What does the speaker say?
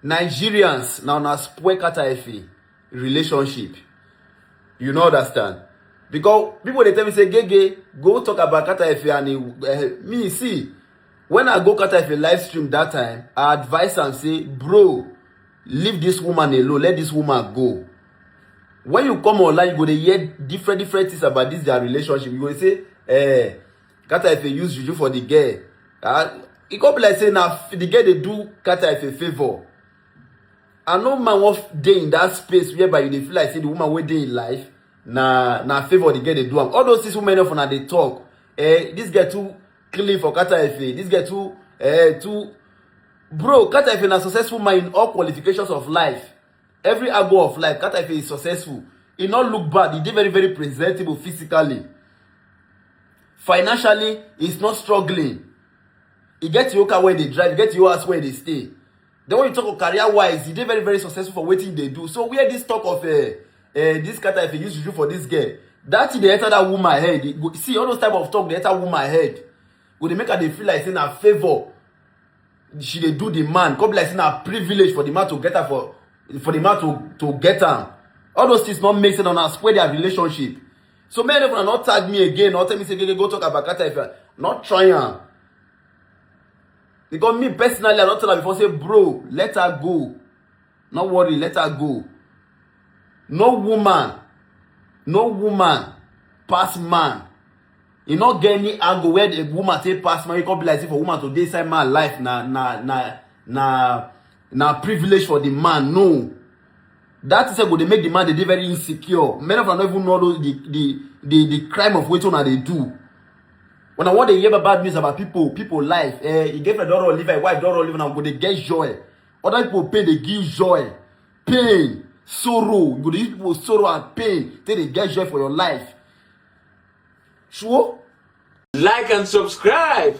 Nigerians na una spoil Carter Efe relationship. You no understand. Because people dey tell me say Gege go talk about Carter Efe and he, uh, me see when I go Carter Efe live stream that time I advise am say bro leave this woman alone let this woman go. When you come online you go dey hear different different things about this their relationship you go dey say eh Carter Efe use juju for the girl. Ah, e come be like say na the girl dey do Carter Efe favour. And no man wan dey in that space whereby you dey feel like say the woman wey dey in life na na favour the girl dey do am. All those things wey many of una dey talk. Eh, this girl too clean for Carter Efe. This girl too eh too bro Carter Efe na successful man in all qualifications of life. Every angle of life, Carter Efe is successful. He not look bad. He dey very, very presentable physically. Financially, he's not struggling. He get your car where they drive, he get your house where they stay. Then when you talk of career wise, he dey very, very successful for what they do. So where this talk of uh, uh, this Carter Efe used to do for this girl, that thing dey enter that woman head. He go, see all those type of talk dey enter woman head. Go dey make her dey feel like say na favour she dey do the man come be like say na privilege for the man to get her for for the man to to get am all those things no make sense una spoil their relationship so make everyone no tag me again no tell me say gege go talk about kata if you no try am because me personally i don tell am before say bro let her go No worry, let her go. No woman, no woman pass man. You no get any angle where the woman take pass man. You come be like say for woman to dey inside man life na na na na na privilege for the man. No. That is go dey make the man dey dey very insecure. Many of them no even know those, the the the the crime of wetin una dey do. When I want to hear bad news about people, people life, eh, e get friend don run live, wife don run live, now go dey get joy. Other people pain dey give joy, pain, sorrow. You go dey use people sorrow and pain take dey get joy for your life. Sure? Like and subscribe.